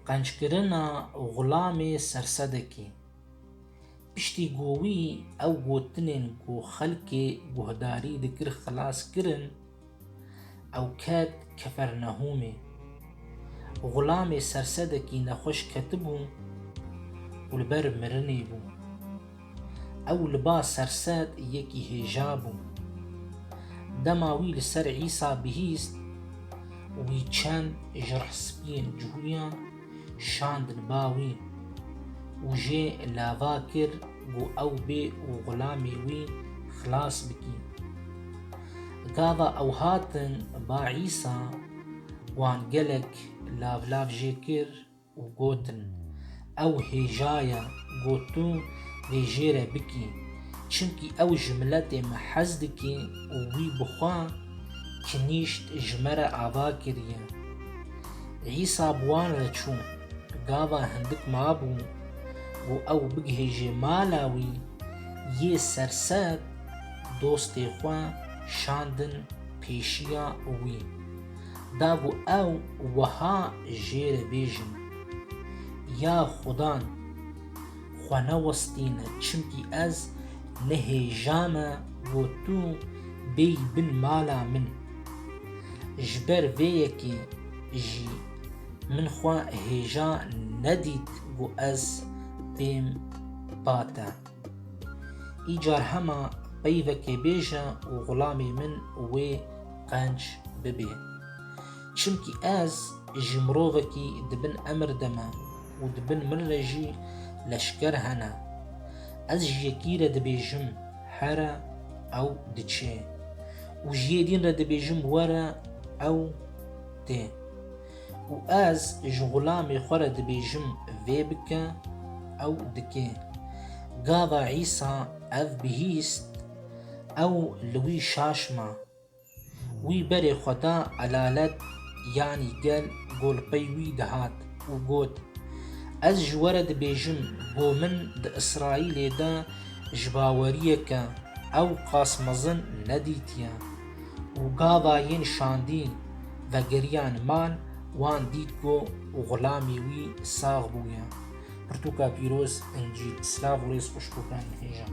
Qenckirina Xulamê Sersedekî Piştî ku wî ew gotinên ku xelkê guhdarî dikir xilas kirin, ew ket Kefernehûmê. Xulamê Sersedekî nexweş ketibû û li ber mirinê bû. Ew li ba sersed yekî hêja bû. Dema wî li ser Îsa bihîst, wî çend ji rehspiyên cihûyan şandin ba wî û jê lava kir ku ew bê û xulamê wî xilas bikî. Gava ew hatin ba Îsa, wan gelek lavlav jê kir, û gotin, Ew hêjaya ku tu dê jê re bikî, çimkî ew ji miletê me hez dike û wî bi xwe kinîşt ji me re ava kiriye. Îsa bi wan re çû, gava hindik mabû ku ew bigihêje mala wî, yê serser dostê xwe şandin pêşiya wî. Dabû ew wiha jê re bêjin, Ya xudan, xwe newestîne çimkî ez ne hêja me bo tu bêyî bin mala min. Ji ber vê yekê jî min xwe hêja nedît ku ez têm ba te. Îcar hema peyvekê bêje û xulamê min wê qenc bibê. Çimkî ez ji mirovekî di bin emir de me û di bin min re jî leşker hene. Ez ji yekî re dibêjim here ew diçê û ji yê dîn re dibêjim were ew tê. Û ez ji xulamê xwe re dibêjim vê bike, ew dike. Gava Îsa ev bihîst, ew li wî şaşma. Wî berê xwe da elalet yanî gel ku li pey wî dihat û got, Ez ji we re dibêjim ku min di Îsraîlê de ji baweriyeke ew qas mezin nedîtiye. û gava yên şandî vegeriyan mal wan dît ku xulamî wî sax bûye. Pirtûka pîroz incî silav û rêz xweş bo bernihêjan.